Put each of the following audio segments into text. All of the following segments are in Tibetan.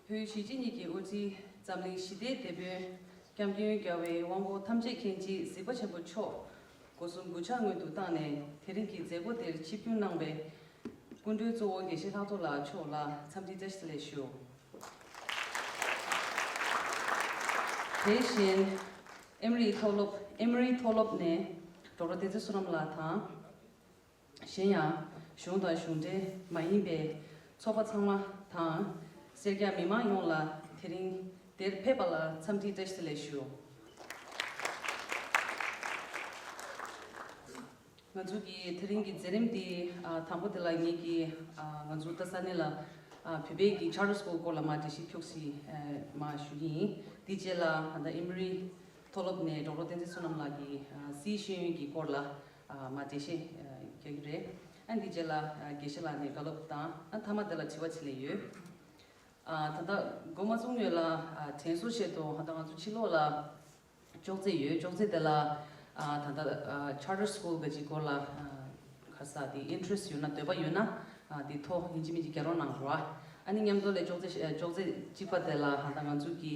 བོད་གཞིས་བྱེས་གཉིས་ཀྱི་དབུ་འཛིན་འཛམ་གླིང་ཞི་བདེའི་དེད་དཔོན་སྐྱབས་མགོན་རྒྱལ་བའི་དབང་པོ་ཐམས་ཅད་མཁྱེན་བརྗིད་གཟིགས་པ་ཆེན་པོ་མཆོག་སྒོ་སྲུང་དགུ་ཆ་སྔོན་དུ་བཏང་ནས་དེ་རིང་གི་མཛད་སྒོ་དེར་ཆིབས་བསྒྱུར་གནང་བའི། སྐུ་མགྲོན་གཙོ་བོ་དགེ་བཤེས་ལྷག་རྡོར་ལགས་མཆོག་ལ་འཚམས་འདྲི་བཀྲ་ཤིས་བདེ་ལེགས་ཞུ། དེ་བཞིན། ཨེམ་རིའི་མཐོ་སློབ། Emory Tholop། ནས་གྲོགས་རོ་བདེ་རྩེ་སུ་རམ་ལགས་དང། གཞན་ཡང། གཞུང་དང་གཞུང་འབྲེལ་མ་ཡིན་པའི་ཚོགས་པ་ཚང་མ་དང། སེར་སྐྱ་མི་མང་ཡོངས་ལ་དེ་རིང་འདིར་ཕེབས་པ་ལ་འཚམས་འདྲིའི་བཀྲ་ཤིས་བདེ་ལེགས་ཞུ། ང་ཚོ་གི་དེ་རིང་གི་མཛད་རིམ་འདི་དང་པོ་དེ་ལ་ངེད་ཀྱིས་ང་ཚོ་རྡ་ས་གནས་ལ་བོད་པའི་གི Charter School སྐོར་ལ་མ་འདྲི་ཞིབ་འཁྱོག་སི་མ་ཞུ་གི་ཡིན། དེ་རྗེས་ལ་ཨ་མདའ་ཨེ་མི་རི་མཐོ་སློབ་ནས་གྲོགས་རོགས་བསྟན་འཛིན་བསོད་ནམས་ལགས་ཀྱིས་སིའི་ཤེས་ཡོན་གྱི་སྐོར་ལ་མ་དེ་བཞིན་རྒྱག་གི་རེད། ཨ་འདི་རྗེས་ལ་དགེ་བཤེས་ལགས་ནས་དགའ་སློབ་དང་ཨ་ཐ་མ་དེ་ལ་དྲི་བ་བྱེད་ལས་ཡོད། ད་ལྟ་མགོ་མ་བཙུགས་མོད་ལ་དྲན་གསོ་བྱེད་དོ་ད་ང་ཚོ་ཕྱི་ལོགས་ལ་ཅོག་རྩེ་ཡོད་ཅོག་རྩེ་དེ་ལ་ད་ལྟ Charter School ག་ཅིག་སྐོར་ལ་ཁ་ས་དེ Interest ཡོད་ན་འདོད་པ་ཡོད་ན་དེ་ཐོ་ཡིན་གཅིག་མིན་གཅིག་རྒྱ་རོགས་གནང་རོགས། ཨ་ནི་མཉམ་དུ་ལས་ཅོག་རྩེ་ཅོག་རྩེ་གཅིག་པ་དེ་ལ་ད་ང་ཚོ་གི་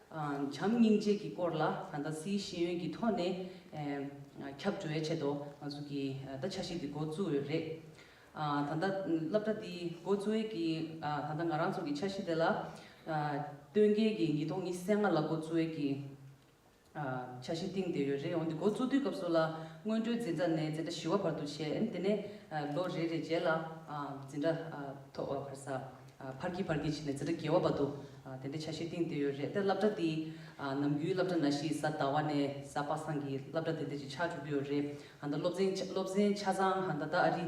བྱམས་སྙིང་རྗེ་གི་སྐོར་ལ་ད་ལྟ་སཱིའི་ཤེས་ཡོན་གྱི་ཐོག་ནས་ཁྱབ་འགྲོ་ཡ་ཆེད་དུ་ང་ཚོ་གི་ད་ཆ་ཤིག་འདི་འགོ་བཙུགས་ཡོད་རེད། ད་ལྟ་སླབ་གྲ་འདི་འགོ་བཙུགས་ཡས་ཀྱི་ད་ལྟ་ང་རང་ཚོ་གི་ཆ་ཤིག་འདི་ལ་སྟོན་རྒྱལ་གྱི་ཉིས་སྟོང་ཉི་གསེ་ལྔ་ལ་འགོ་བཙུགས་ཡས་ཀྱི་ཆ་ཤིག་བཏིང་བསྡད་ཡོད་རེད་འོན་ཏེ་འགོ་བཙུགས་དུས་སྐབས་སུ་ལ་སྔོན་འགྲོའི་འཛིན་གྲ་ནས་འཛིན་གྲ་བཞི་བ་བར་དུ་བྱས་དེ་ནས་ལོ་རེ་རེ་རྗེས་ལ་འཛིན་གྲ་ཐོག་བར་ས། ཕར་གྱིས་ཕར་གྱིས་བྱས་ནས་ཚེ་སྒྲ་བརྒལ་བ་བ་འདུག་དེ་འདྲའི་ཆ་ཤས་གཏིང་དེ་ཡོད་རེད་དེ་བསླབ་གྲྭ་འདི་ནམ་རྒྱུན་བསླབ་གྲྭ་ན་ཤི་ཟ་ཟླ་བ་ནས་ཟ་དཔག་སངས་ཀྱི་བསླབ་གྲྭ་དེ་འདྲས་ཅིག་ཆགས་བཅུག་གི་ཡོད་རེད་ད་སློབ་ཚན་སློབ་ཚན་ཆ་ཚང་ད་ལྟ་ཨ་རི་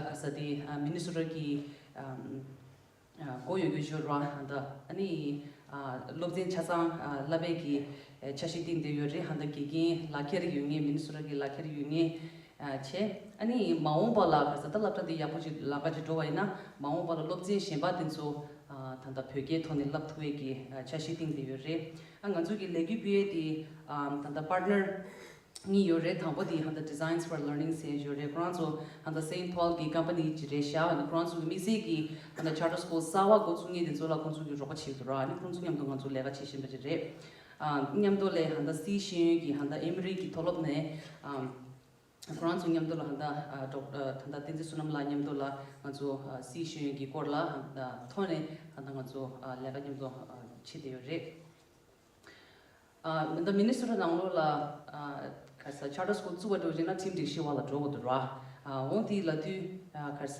ག་ས་དེ་མི་ནི་སུ་ར་གི་སྒོ་ཡོད་རྒྱུ་ཤོར་བ་ད་ཨ་ནི་ཡི་སློབ་ཚན་ཆ་ཚང་བསླབ་བས་ཀྱི་ཆ་ཤས་གཏིང་དེ་ཡོད་རེད་ད་དགེ་རྒན་ལག་འཁྱེར་ཡོད་ངེས་མི་ནི་སུ་ར་གི་ལག་འཁྱེར་ཡོད་ངེས་བྱས། ཨ་ནི། མ་འོངས་པ་ལ་ག་ས་ད་སླབ་གྲ་འདི་ཡག་པོ་ཅིག་ལག་འགའ་ཅིག་འགྲོ་བ་ཡིན་ན་མ་འོངས་པ་ལ་སློབ་ཚན་གཞན་པ་དེ་ཚོ་ད་ལྟ་བོད་སྐད་ཐོག་ནས་སླབ་ཐུབ་འོས་ཀྱི་འཆར་གཞི་བཏིང་བསྡད་ཡོད་རེད། ཨ་ང་ཚོ་གི་ལས་གུས་པུའེ་དེ་ད་ལྟ Partner གཉིས་ཡོད་རེད་དང་པོ་དེ་ད་ལྟ Designs for Learning ཟེར་ཡོད་རེད་ཁོ་རང་ཚོ་ད་ལྟ Saint Paul གི Company ཅིག་རེད་ཤག་ཨ་ནི་ཁོ་རང་ཚོ་གི་དམིགས་བསལ་གྱི་ད་ལྟ Charter School གསར་བ་འགོ་བཙུགས་ངེས་དེ་ཚོ་ལ་ཁོང་ཚོ་གི་རོགས་པ་བྱེད་དུ་ར་ཨ་ནི་ཁོང་ཚོ་མཉམ་དུ་ང་ཚོ་ལས་ཀ་བྱེད་བཞིན་པ་ཅིག་རེད། མཉམ་དུ་ལས་ཧན་ད་སིའི་ཤེས་ཡོན་གྱི་ཧན་ད་ཨིམ་རིགས་ཀྱི་མཐོ་སློབ་ནས་ཁོ་རང་ཚོ་མཉམ་དུ་ལ་ཧན་ད་ཐང་ད་བསྟན་འཛིན་བསོད་ནམས་ལགས་མཉམ་དུ་ལ་ང་ཚོ་སིའི་ཤེས་ཡོན་གྱི་སྐོར་ལ་ཐོག་ནས་ད་ང་ཚོ་ལས་ཀ་མཉམ་དུ་བྱེད་བསྡད་ཡོད་རེད། ད་མི་ནི་སུ་ར་རང་ལོ་ལ་ཁར་ས Charter School བཙུགས་པ་འགྲོ་ཅིང་ན་ཁྲིམས་སྒྲིག་ཤེས་བ་ལ་འགྲོ་དགོས་འདུག་ར་འོང་དེའི་ལ་དུས་ཁར་ས་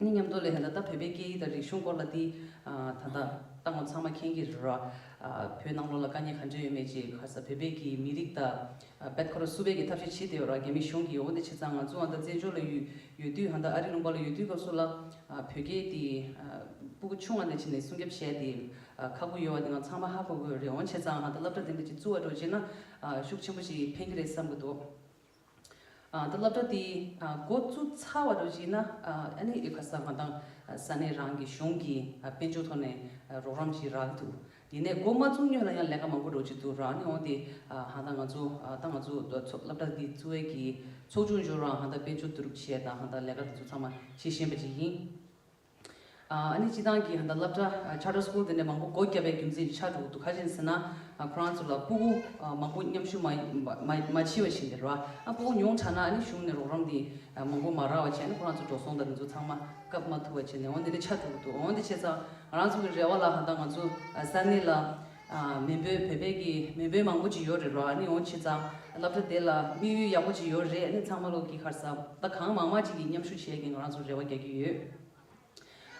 ནི་མཉམ་དུ་ལས་ད་ལྟ་བོད་པའི་སྐད་ཡིག་དང་རིག་གཞུང་སྐོར་ལ་འདི་ད་ལྟ་བཏང་བ་ཚང་མ་མཁྱེན་གྱི་རེད། བོད་ནང་ལོགས་ལ་དཀའ་རྙེད་ག་འདྲས་ཡོད་མེད་ཅེས་ཁ་ས་བོད་པས་ཀྱི་མི་རིགས་དང་བེད་ཁ་རུ་སུ་བེད་ཀྱི་ཐབས་ཤེས་བྱེད་དེ་ཡོད་ར་རྒྱ་མི་གཞུང་གྱི་ཡོ་འདི་ཆེ་ཚང་ང་ཚོ་འང་ད་བཙན་བྱོལ་ལ་ཡོད་དུས་འང་ད་ཨ་རི་ལུང་པ་ལ་ཡོད་དུས་སྐབས་སུ་ལ་བོད་སྐད་དེ་སྤུ་གུ་ཆུང་བ་འདི་བྱས་ནས་སྲུང་སྐྱབས་བྱས་དེ་ཁག་པོ་ཡོད་བ་འདི་འང་ཚང་མ་ཧ་གོ་དགོས་རེད་འོན་ཆེ་ཚང་འང་ད་སླབ་གྲ་དེ་འདྲ་ཅིག་བཙུ་བ་འགྲོ་བྱས་ན་ཤུགས་ཆེན་པོ་ཞིག་ཕན་གྱི་རེད་བསམ་གྱི་འདུག། སློབ་གྲྭ་དེའི་འགོ་བཙུགས་ཚར་བ་རུ་གཞིགས་ན་ཨ་ནེ་ཨི་བྷ་ས་མ་དང་ས་གནས་རང་གི་གཞུང་གི་དཔལ་འབྱོར་ཐོག་ནས་རོགས་རམ་བྱེད་རག་གི་འདུག་ཡིན་ནས་འགོ་མ་བཙུགས་སྔོན་ལ་ཡང་ལས་ཀ་མང་པོ་རོགས་ཀྱི་འདུག་རག་མྱོང་སྟེ་ཧང་ད་ང་ཚོ་ད་ང་ཚོ་སློབ་གྲྭ་འདི་བཙུགས་འོས་ཀྱི་ཚོགས་ཆུང་འབྱོར་རང་ཧང་ད་དཔལ་འབྱོར་བསྡུ་རུབ་བྱས་དང་ཧང་ད་ལས་ཀ་འདི་ཚོ་ཚང་མ་བྱེད་བཞིན་པ་ཅིག་ཡིན། ཨ་ནི་སྤྱི་བཏང་གི་ཧན་ད་བསླབ་གྲྭ Charter School དེ་འདྲའི་མང་པོ་སྒོ་བརྒྱབ་པའི་རྒྱུ་མཚན་ཆ་དྲུག་འདུག་ག་བྱིན་ཟེར་ན། ཁོ་རང་ཚོ་ལ་སྤུ་གུ་མང་པོ་མཉམ་ཞུགས་མ་མཆིས་བ་བཞིན་དེ་རུ་ཨ་སྤུ་གུ་ཉུང་དྲགས་ན་ཨ་ནི་གཞུང་ནས་རོགས་རམ་དེ་མང་པོ་མ་རག་བ་བྱས་ན་ཁོ་རང་ཚོ་འགྲོ་སོང་དང་དེ་ཚོ་ཚང་མ་སྐབས་མ་ཐུབ་བ་བྱས་ནས་འོན་དེ་འདྲའི་ཆ་དྲུག་འདུག་འོན་ཏེ་བྱས་ཙང་ང་རང་ཚོ་གི་རེ་བ་ལ་ཧན་ད་ང་ཚོ་ས་གནས་ལ། མེས་པོའི་བོད་པའི་གི་མེས་པོའི་མང་པོ་ཅིག་ཡོད་རེད་རོ་ཨ་ནི་ཨོ་ཁྱི་ཙང་ལབ་ད་དེ་ལ་དམིགས་ཡུལ་ཡག་པོ་ཅིག་ཡོད་རེད་ཨ་ནི་ཚང་མ་ལོག་གི་ཁར་ས་ད་གང་མང་མང་ཅིག་གི་མཉམ་ཞུགས་བྱས་གི་ང་རང་ཚོ་རེ་བ་རྒྱག་གི་ཡོད་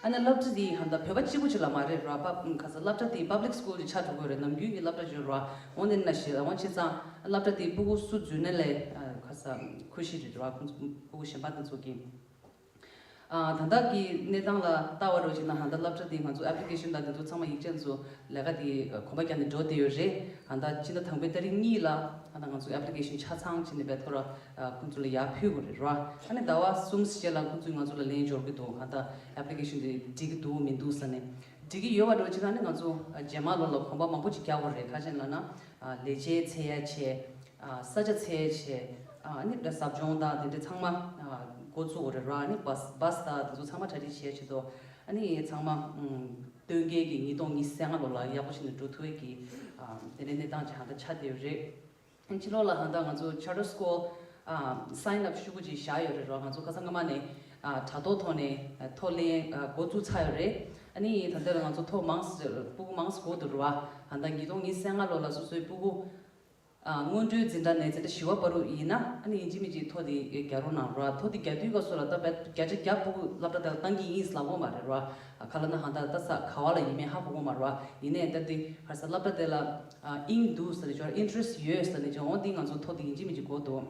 ཨ་ནི་ལབ་ད་དེ་ཧན་ད་བོད་པ་གཅིག་པོ་ཅིག་ལ་མ་རེད་རོ་ཨ་པ་ག་ས་ལབ་ད་དེ Public School ཅིག་ཆགས་འགྲོ་དགོས་རེད་ནམ་རྒྱུན་གི་ལབ་ད་བརྗོད་རོ་ཨ་ཨོ་ནི་ན་ཞི་ཨོ་ཁྱི་ཙང་ལབ་ད་དེ་སྤུ་གུ་སུ་རྫུན་ནེ་ལེ་ག་ས་ཁུ་ཤི་རེད་རོ་ཨ་ཁོང་ཚོ་སྤུ་གུ་གཞན་པ་ད་ཚོགས་གི། དང་བདག་གི་གནས་སྟངས་ལ་བལྟ་བར་རོགས་བྱེད་ན་ཧང་ད་བསླབ་བྱ་འདི་ང་ཚོ Application དང་འདི་ཚོ་ཚང་མ་ཡིག་ཆ་འཚོ་ལས་ཀ་དེ་གོམ་པ་རྒྱག་ནས་འགྲོ་བསྡད་ཡོད་རེད་ཧང་ད་སྤྱི་ཟླ་དང་པོའི་ད་རིག་གཉིས་ལ་ཧང་ད་ང་ཚོའི Application ཆ་ཚང་བྱེད་ནས་འབད་ཐོ་ར་ཁོང་ཚོ་ལ་ཡར་ཕུལ་དགོས་རེད་རོ་ཨ་ནི་ཟླ་བ་གསུམ་ཟེར་ལ་ཁོང་ཚོས་ང་ཚོ་ལ་ལན་འབྱོར་གི་འདུག་ཧང་ད Application དེ་འགྲིག་གི་འདུག་མི་འདུག་ས་ནས་འགྲིག་གི་ཡོད་བ་རོགས་བྱེད་ན་ནི་ང་ཚོ་རྗེས་མ་ལོ་ལ་གོམ་པ་མང་པོ་ཅིག་རྒྱག་དགོས་རེད་ཁ་ཆེན་ལ་ན་ལས་བྱའི་ཚད་ཡ་ཆེ་ས་ཆ་ཚད་འཇལ་ཟབ་སྦྱོང་དང་དེ་འདྲ་ཚང་མ་འགོ་བཙུགས་རེད་ར་ནི Bus དང་དེ་ཚོ་ཚང་མ་གྲ་སྒྲིག་བྱས་ཆེད་དོ་ནི་ཚང་མ་སྟོན་ཁའི་གི་ཉིས་སྟོང་ཉི་ས་ལྔ་ལོ་ལ་ཡག་པོ་བྱེད་ནས་འགྲོ་ཐུའི་གི་དེ་འདྲའི་གནས་སྟངས་ཀྱི་ཧང་ད་ཆགས་བསྡད་ཡོད་རེད་ཕྱི་ལོག་ལ་ཧང་ད་ང་ཚོ Charter School Sign Up ཞུ་གུ་ཅིག་བཞག་ཡོད་རེད་ར་ང་ཚོ་ཁ་སང་སྔ་མ་ནས་དྲ་ཐོག་ཐོག་ནས་ཐོག་གླེང་འགོ་བཙུགས་ཚར་ཡོད་རེད་ནི་ད་འདི་ལ་ང་ཚོ་ཐོག་མང་སྤུ་གུ་མང་སྤུ་གུ་འདུག་ར་ཧང་ད་ཉིས་སྟོང་ཉི་ས་ལྔ་ལོ་ལ་སོ་སོའི་སྤུ་གུ་སྔོན་འགྲོའི་འཛིན་གྲྭ་ནས་འཛིན་གྲྭ་བཞི་བ་བར་ཡིན་ན་ཨ་ནི་ཡིན་གཅིག་མིན་གཅིག་ཐོ་དེ་རྒྱག་རོགས་གནང་རོགས་ཨ་ཐོ་དེ་རྒྱག་དུས་ཀ་སུ་ལ་ད་བད་བརྒྱ་ཆ་བརྒྱ་སྤོ་དགོས་ལབ་འདྲ་དེ་ལ་གཏང་གི་ཡིན་ས་ལ་དབོ་མ་རེད་རོགས་ཨ་ཁ་ལ་ན་ཧང་ད་ད་ས་ག་བ་ལ་ཡིན་མེད་ཧ་གོ་དགོས་མ་རོགས་ཨ་ཡིན་ནས་ད་དེ་གར་ས་ལབ་འདྲ་དེ་ལ་ཨིན་འདུག་ས་ནི་ཅོ་ར interest ཡོད་ས་ནི་ཅོ་འོ་དེ་ང་ཚོ་ཐོ་དེ་ཡིན་གཅིག་མིན་གཅིག་གོ་འདུག།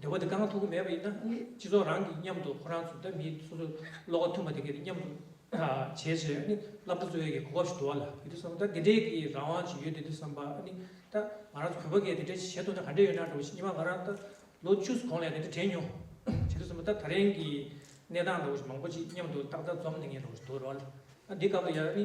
འདོད་པ་དེ་དཀའ་ངལ་ཐོབ་ཀྱི་མེད་པ་ཡིན་ན་སྤྱི་ཚོགས་རང་གིས་མཉམ་དུ་ཁོ་རང་ཚོ་འདྲ་མིན་སོ་སོ་བློ་ཁ་མཐུན་པ་དེ་གས་མཉམ་དུ་བྱས་ཚེ་ནི་བླ་བྲང་གཙོ་བོའི་གོ་སྐབས་ཤིག་འགྲོ་བ་ལ་བུ་དེ་བསམ་ད་དེ་འདྲའི་གི་རང་དབང་ཞིག་ཡོད་དེ་དེ་བསམ་པ་ནི་ད་ང་རང་ཚོ་བོད་པ་གས་དེ་འདྲའི་བྱེད་ཐུབ་ན་ག་འདྲའི་ཡོད་ན་འགྲོ་བ་ཞིག་སྙིང་མ་ང་རང་ད་ལོ་བཅུ་གོང་ལས་དེ་འདྲ་དྲན་མྱོང། བྱེད་ཐུབ་བསམ་པ་ད་ད་རིང་གི་གནས་སྟངས་འགྲོ་བ་ཞིག་མང་པོ་ཅིག་མཉམ་དུ་ཏག་ཏག་འཛོམས་ནས་ངས་འགྲོ་བ་ཞིག་འདུག་རོགས་ལ། ཨ་འདི་སྐབས་ལ་ཡང་ནི་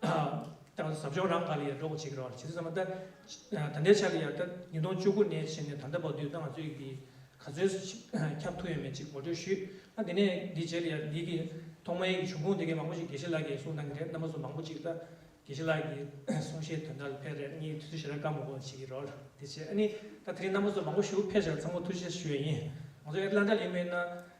ཟབ་སྦྱོང་རང་ག་ལ་ཡར་འགྲོ་གོ་བྱེད་ཀྱི་རོགས་ལ་བྱེད་ཚུལ་ཚང་མ་ལྟ། ད་ལྟའི་ཆར་ཡར་ལྟ་ཉིས་སྟོང་བཅུ་དགུ་ནས་བྱས་ནས་ད་ལྟ་བར་དུས་ད་ང་ཚོས་ཀྱིས་ག་ཚོད་ཁྱབ་ཐུབ་ཡོད་མེད་ཅིག་ངོ་སྤྲོད་ཞུ། ཨ་དེ་ནས་འདི་བྱས་ལ་ཡར་ལིས་ཀྱི་ཐོག་མ་ཡིག་གི་བྱུང་ཁུངས་དེ་གས་མང་པོ་ཞིག་དགེ་བཤེས་ལགས་ཀྱིས་གསུངས་གནང་གི་རེད་རྣམ་པ་ཚོ་མང་པོ་ཅིག་ལྟ། དགེ་བཤེས་ལགས་ཀྱིས་གསུངས་བཤད་དོན་དག་ལ་ཕལ་རེར་གཉིས་ཐུགས་རྗེ་ཆེ་ར་དཀའ་མོ་གོ་བྱེད་ཀྱི་རོགས་ལ་དེ་བྱས་ཨ་ནི་ད་དེ་རིང་རྣམ་པ་ཚོ་མང་པོ་ཞུ་ཕལ་ཆེར་ཚང་མ་ཐུགས་རྗེ་ཆེ་ཞུ་ཡ་ཡིན། ང་ཚོ་ཨེ་ལ་འདྲ་ལིས་མེད་ན།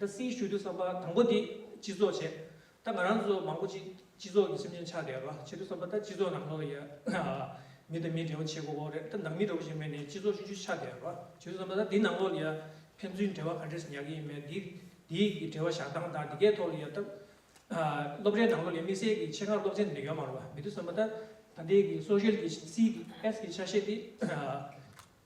ད་སྲིད་ཞུ་རྒྱུ་བསམ་པ་དང་པོ་དེ་སྤྱི་ཚོགས་བྱས། ད་ང་རང་ཚོ་མང་པོ་ཅིག་སྤྱི་ཚོགས་ཀྱི་སེམས་ཅན་ཆགས་བསྡད་རོགས་བྱེད་དུ་བསམ་པ་ད་སྤྱི་ཚོགས་ནང་ལོགས་ཡ། མི་དང་མི་འབྲེལ་བ་བྱེད་དགོས་བོ་རེད་ད་ནང་མི་འགྲོ་བོ་ཞིག་མེད་ནས་སྤྱི་ཚོགས་ཞུ་རྒྱུ་ཆགས་བསྡད་རོགས་བྱེད་དུ་བསམ་པ་ད་འདི་ནང་ལོགས་ཡ། ཕན་ཚུན་འབྲེལ་བ་ག་འདྲས་སུ་ཉར་གྱི་ཡིན་མེད་འདི་འདིའི་འབྲེལ་བ་བཞག་སྟངས་དང་འདི་གའི་ཐོག་ལ་ཡ། སློབ་གྲྭའི་ནང་ལོགས་ཡ་དམིགས་བསལ་གྱི་ཆེད་མཁར་སློབ་ཚན་འདི་ཡོད་མ་རོགས་མེད་དུ་བསམ་པ་ད། ད་འདི་གི་སོ་ཤེལ་གྱི CDS གྱི་ཆ་ཤས་དེ།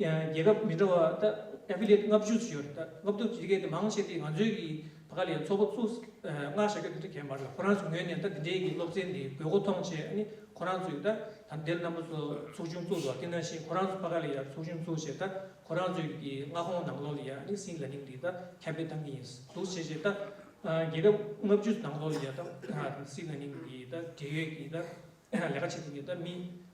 རྒྱལ་ཁབ་མི་འདྲ་བ་དང Affiliate ལྔ་བཅུ་ཞིག་ཡོད་རེད། ལྔ་བཅུ་དེ་གའི་དེ་མང་ཆེ་དེ་ང་ཚོའི་གི་བ་ག་ལ་ཡའི་ཚོགས་པ་ཚུགས་སྔར་བྱ་རྒྱུ་དེ་འདྲ་གས་མ་རེད་ཁོ་རང་ཚོ་ངོས་ནས་ད་དེ་འདྲའི་གི་སློབ་ཚན་དེ་དགོས་མཁོ་མཐོང་ཆེ་ཨ་ནི་ཁོ་རང་ཚོའི་ད་དམ་དེལ་རྣམ་པ་ཚོ་ཚོགས་ཆུང་བཙུགས་འདུག་དེ་ནང་བཞིན་ཁོ་རང་ཚོ་བ་ག་ལ་ཡའི་ཚོགས་ཆུང་བཙུགས་ཆེ་ད་ཁོ་རང་ཚོའི་གི་མངའ་ཁོངས་ནང་ལོགས་ལ་ཡ་ཨ་ནི་སིང་ལ་ནིང་དེ་ད་ཁྱབ་སྤེལ་གཏང་གི་ཡིན་འདུག་བྱས་རྗེས་ད་རྒྱལ་ཁབ་ལྔ་བཅུ་ནང་ལོགས་ལ་ཡ་ད་སིང་ལ་ནིང་གི་ད་འབྲེལ་ཡོད་གི་ད་ལས་ཀ་བྱེད་ཐུབ་མཁན་ད་མི་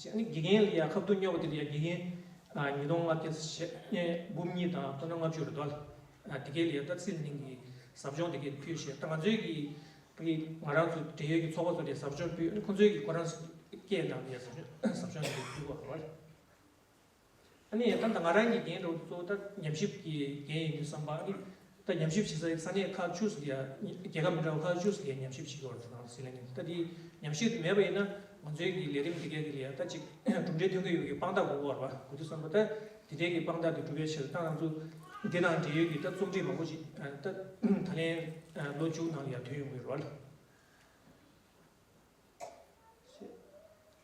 ཞེས་ནི་དགེ་རྒན་ལ་ཡང་ཁ་བསྡུར་སྨྱོ་བ་དེ་ལ་ཡང་དགེ་རྒན་ཉིས་སྟོང་ལྔ་བརྒྱ་འབུམ་གཉིས་དང་སྟོང་དང་ལྔ་བཅུ་རེ་དོ། དེ་གའི་ལ་ཡང་སྟག་སེང་གླིང་གི་ཟབ་སྦྱོང་དེ་གའི་ནས་ཕུལ་ཞེས་ད་ང་ཚོའི་གི་གི་ང་རང་ཚོ་འབྲེལ་ཡོད་ཀྱི་ཚོགས་པ་ཚོ་ནས་ཟབ་སྦྱོང་ཕུལ་ཁོ་ཚོའི་གི་ཁོ་རང་སྐད་ནང་ནས་ཟབ་སྦྱོང་ཟབ་སྦྱོང་དེ་གའི་ཕུལ་བ་རེད། ཨ་ནི་ཨ་ན་ང་རང་གི་འགན་འདོགས་གཙོ་བོ་ད་ཉམས་ཞིབ་ཀྱི་འགན་ཡིན་དུ་བསམ་པ་ཨ་ནི་ད་ཉམས་ཞིབ་བྱེད་ས་ས་གནས་ཁག་བཅུ་སོ་དེ་རྒྱལ་ཁབ་མི་འདྲ་བ་ཁག་བཅུ་སོ་དེ་ཉམས་ཞིབ་བྱེད་དགོས་རེད་ཟེར་ལེ་ནི་ད་དེ་ཉམས་ཞིབ་དེ་མེད་པ་ཡིན་ན་ང་ཚོའི་གི་ལས་རིམ་དེ་གའི་གི་ལས་ད་ཅིག་གྲུབ་འབྲས་ཐོན་གི་ཡོད་གི་དཔང་རྟགས་དགོས་བར་དགོས་དུ་བསམ་པ་ད་དེ་འབྲས་གི་དཔང་རྟགས་དེ་གྲུབ་པའི་ཕྱིར་ཏང་ནང་ཚུགས་དེ་དང་འབྲེལ་ཡོད་གི་ད་རྩོམ་སྒྲིག་མང་པོ་ཞིག་ད་ད་ལན་ལོ་མཇུག་ནང་ཡར་ཐོན་ཡོང་གི་ཡོད་རེད།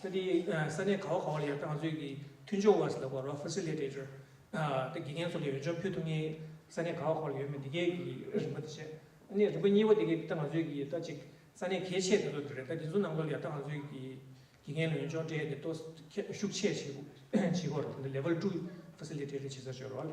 ད་དེ་ས་གནས་ག་བ་ག་བ་ལ་ཡང་ཏང་ཙུའི་གི་མཐུན་སྦྱོར་བ་སི་ལ་བ་རོ Facilitator དེ་དགེ་རྒན་ཚོ་ལ་ཡོད་འཇོན་ཕུད་ཐུབ་ངེས་ས་གནས་ག་བ་ག་བ་ལ་ཡོད་མེད་དེ་གའི་གི་རིམ་པ་དེ་བྱས། ནས་རིམ་པ་གཉིས་པ་དེ་གའི་ད་ང་ཚོའི་གི་ད་ཅིག་ས་གནས་གལ་ཆེ་དེ་ཚོ་དེ་རེད་ད་དེ་ཚོ་ནང་ཚོ་ལ་ཡང་ད་ང་ཚོའི་གི་དགེ་རྒན་ལ་ཡོན་ཅོག་འབྲེལ་དེ་ཏོ་ཤུགས་ཆེ་བྱེད་དགོས་བྱེད་དགོས་རེད་དེ་འདི Level two Facilitator བྱེད་ས་བྱོས་རོགས།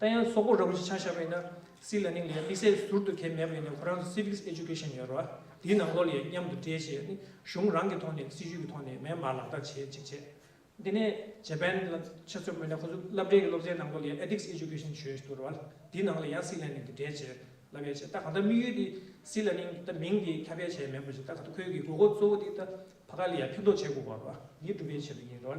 ད་ཡང་སོག་པོ་ར་བོ་ཞིག་ཆགས་བཞག་པའི་ན་སི་ལ་ནིང་ལས་དམིགས་བསལ་ཟུར་དུ་ཁེལ་མེད་པའི་ནི་ཁོ་རང་ཚོ Civics Education ཡོད་ར་དེའི་ནང་ལོག་ལས་མཉམ་དུ་འབྲེལ་བྱས་ནི་གཞུང་རང་གི་ཐོག་ནས་སྲིད་ཇུས་ཀྱི་ཐོག་ནས་མེ་མར་ལག་བསྟར་བྱེད་ཅིག་བྱས། དེ་ནས Japan ལ་ཆ་མཚོན་པའི་ནི་ཁོ་ཚོ་བསླབ་གྲྭའི་གི་སློབ་ཚན་ནང་ལོག་ལས Ethics Education བྱོས་ཞེས་འདུག་ར་དེའི་ནང་ལས་ཡང་སི་ལ་ནིང་དུ་འབྲེལ་བྱས་ལ་བས་བྱས་ད་གང་ལྟར་དམིགས་ཡུལ་དེ་སི་ལ་ནིང་ད་མིང་དེ་ཁྱབ་སྤེལ་བྱས་མེད་པ་བཞིན་ད་གང་ལྟར་ཁོའི་གི་དགོས་མཁོ་གཙོ་བོ་དེ་ད་བྷ་ག་ལི་ཡ་ཕན་ཐོགས་བྱེད་དགོས་པ་ར་ནི་སྒྲུབ་པའི་ཆེད་དུ་ཡིན་ར